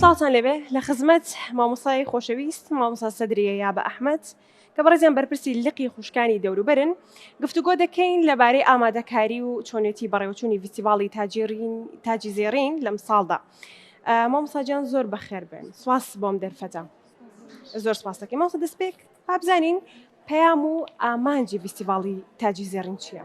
سڵاوتان لێبێ لە خزمەت مامۆستای خۆشەویست مامۆستا سەدریە یابە ئەحمەد کە بەڕێزیان بەرپرسی لقی خوشکانی دەوروبەرن گفتوگۆ دەکەین لەبارەی ئامادەکاری و چۆنێتی بەڕێوەچوونی ڤیستیڤاڵی تاجیڕین تاجی زێڕین لەم ساڵدا مامۆستا جان زۆر بەخێر بێن سواس بۆم دەرفەتە زۆر سپاس دەکەین مامۆستا دەستپێک با بزانین پەیام و ئامانجی ڤیستیڤاڵی تاجی زێڕین چییە؟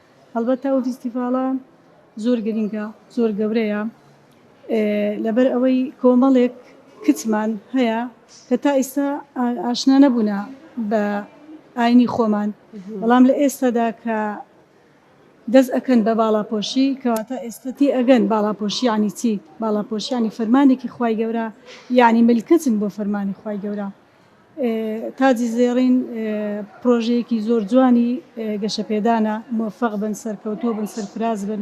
هەڵبەتە ئەو فیستیڤاڵە زۆر گرینگە زۆر گەورەیە لەبەر ئەوەی کۆمەڵێک کچمان هەیە کە تا ئیستا ئاشنا نەبوونا بە ئاینی خۆمان بەڵام لە ئێستادا کە دەست ئەکەن بە باڵاپۆشی کەواتە ئێستەتی ئەگەن باڵاپۆشیانی چی باڵاپۆشیانی فەرمانێکی خی گەورە یعنی ملکەچن بۆ فەرمانی خی گەورە تاجی زێڕین پرۆژەیەکی زۆر جوانی گەشە پێدانە موفق بن سەرکەوتوو بن سەرفراز بن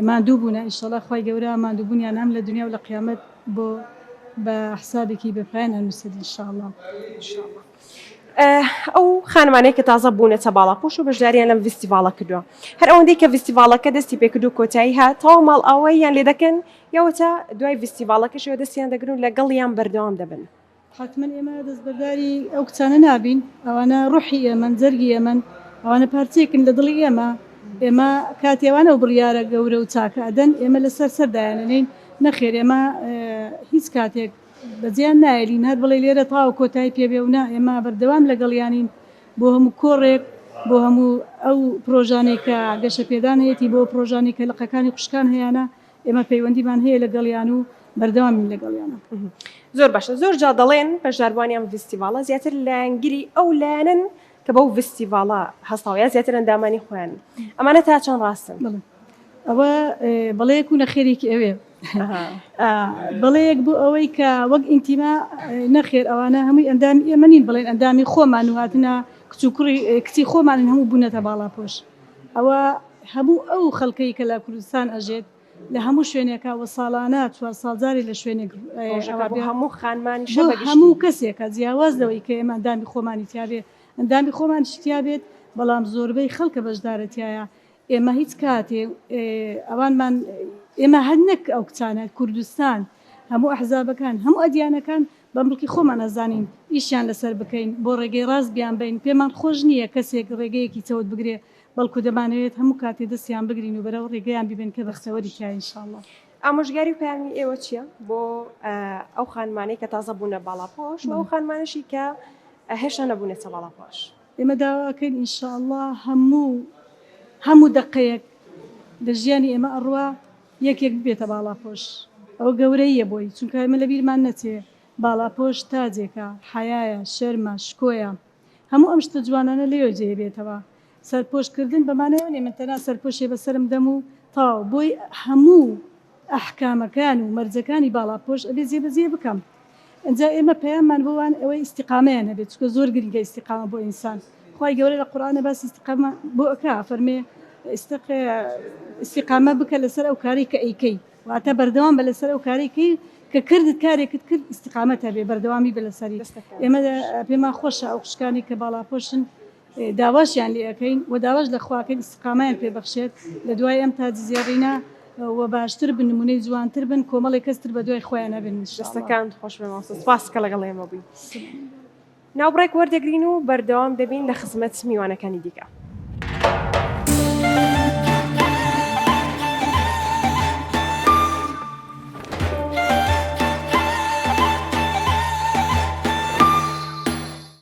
ماندوو بوون ئیشەڵا خی گەورە مادووبوونیان هەم لە دنیا و لە قیامەت بۆ بە حسابێکی بەپایان هەنووسێت انشاءاللە. ئەو خانمانەی کە تازە بوونەتە باڵاپۆش و بەشداریان لەم ڤیستیڤاڵە کردووە هەر ئەوەندەی کە ڤیستیڤاڵەکە دەستی پێکرد و کۆتایی هات تەواو ماڵ ئاواییان لێ دەکەن یاوەتا دوای ڤیستیڤاڵەکەشەوە دەستیان دەگرن و لەگەڵیان بەردەوام دەبن حەتمەن ئێمە دەستبەرداری ئەو کچانە نابین، ئەوانە ڕۆحی ئێمەن، جەرگی ئێمەن، ئەوانە پارچەیەکن لە دڵی ئێمە، ئێمە کاتی ئەوانە ئەو بڕیارە گەورە و چاکە ئەدەن، ئێمە لەسەر سەر دایانئەنێین، نەخێر ئێمە هیچ کاتێک بەجێیان نایەلین، هەر بڵێی لێرە تەواو کۆتایی پێ بێ و نا، ئێمە بەردەوام لەگەڵیانین بۆ هەموو کۆڕێک، بۆ هەموو ئەو پڕۆژانەی کە گەشەپێدان هەیەتی، بۆ پڕۆژانەی کە لقەکانی خوشکان هەیانە، ئێمە پەیوەندیمان هەیە لەگەڵیان و بەردەوامین لەگەڵیانە. زۆر باشە زۆر جا دەڵێن بەشداربووانی ئەم ڤیستیڤاڵە زیاتر لایەنگری ئەو لایەنەن کە بەو ڤیستیڤاڵە هەستاوە یا زیاتر ئەندامانی خۆیانن ئەمانە تا چەند ڕاستن؟ ئەوە بەڵەیەک و نەخێرێکی ئەوێ بەڵەیەک بۆ ئەوەی کە وەک ئینتیما نەخێر ئەوانە هەمووی ئەندامی ئێمە نین بڵێن ئەندامی خۆمان و هاتنە کچ و کوڕی کچی خۆمانن هەموو بوونەتە باڵاپۆش ئەوە هەموو ئەو خەڵکەی کە لە کوردستان ئەژێت لە هەموو شوێنێکە وە ساڵانە چوار ساڵ جارێ لە شوێنێک ڕۆژەکە بۆ هەموو خانمانیشە بەگشتی بۆ هەموو کەسێکە جیاواز لەوەی کە ئێمە ئەندامی خۆمانی تیا بێت ئەندامی خۆمانیش تیا بێت بەڵام زۆربەی خەڵکە بەشدارە تیایا ئێمە هیچ کاتێ ئەوانمان ئێمە هەر نەک ئەو کچانە کوردستان هەموو ئەحزابەکان هەموو ئەدیانەکان بە مڵکی خۆمان ئەزانین ئیشیان لەسەر بکەین بۆ ڕێگەی ڕاست بیان بەین پێمان خۆش نیە کەسێک ڕێگەیەکی چەوت بگرێ بەڵکو دەمانەوێت هەموو کاتێ دەستیان بگرین و بەرەو ڕێگەیان بیبەین کە بەختەوەری تیایە ان شاءاللە. ئامۆژگاری و پەیامی ئێوە چیە بۆ ئەو خانمانەی کە تازە بوونە باڵاپۆش و ئەو خانمانەشی کە هێشتا نەبوونەتە باڵاپۆش؟ ئێمە داوا ئەکەین ان شاءاللە هەموو هەموو دەقەیەک لە ژیانی ئێمە ئەڕوا یەک یەک ببێتە باڵاپۆش ئەوە گەورەییە بۆی چونکە ئێمە لەبیرمان نەچێ باڵاپۆش تاجێکە حەیایە شەرمە شکۆیە هەموو ئەم شتە جوانانە لێوە جێ بێتەوە سەرپۆش کردن بەمانای ئەوە نیە من تەنها سەرپۆشێ بەسەرم دەم و تەواو بۆی هەموو ئەحکامەکان و مەرجەکانی باڵاپۆش ئەبێ جێ بەجێ بکەم ئینجا ئێمە پەیاممان بۆ وان ئەوەی ئیستیقامەیان هەبێت چونکە زۆر گرنگە ئیستیقامە بۆ ئینسان خوای گەورە لە قورئانە باسی ئیستیقامە بۆ ئەکا فەرمێ ئیستق ئیستیقامە بکە لەسەر ئەو کارەی کە ئەیکەی واتە بەردەوام بە لەسەر ئەو کارەی کەی کە کردت کارێکت کرد ئیستیقامەت هەبێ بەردەوامی بە لەسەری ئێمە پێمان خۆشە ئەو خوشکانی کە باڵاپۆشن داواشیان لێ ئەکەین و داواش لە خوا ئەکەین ئیستیقامەیان پێ بەخشێت لە دوای ئەم تاج زێڕینە و باشتر بن نمونەی جوانتر بن کۆمەڵێ کەس تر بە دوای خۆیان ئەبن ان شاء اللە. دەستەکانت خۆش بێ مامۆستا سوپاس کە لەگەڵ ئێمە بووی. ناوبڕێک وەردەگرین و بەردەوام دەبین لە خزمەت میوانەکانی دیکە.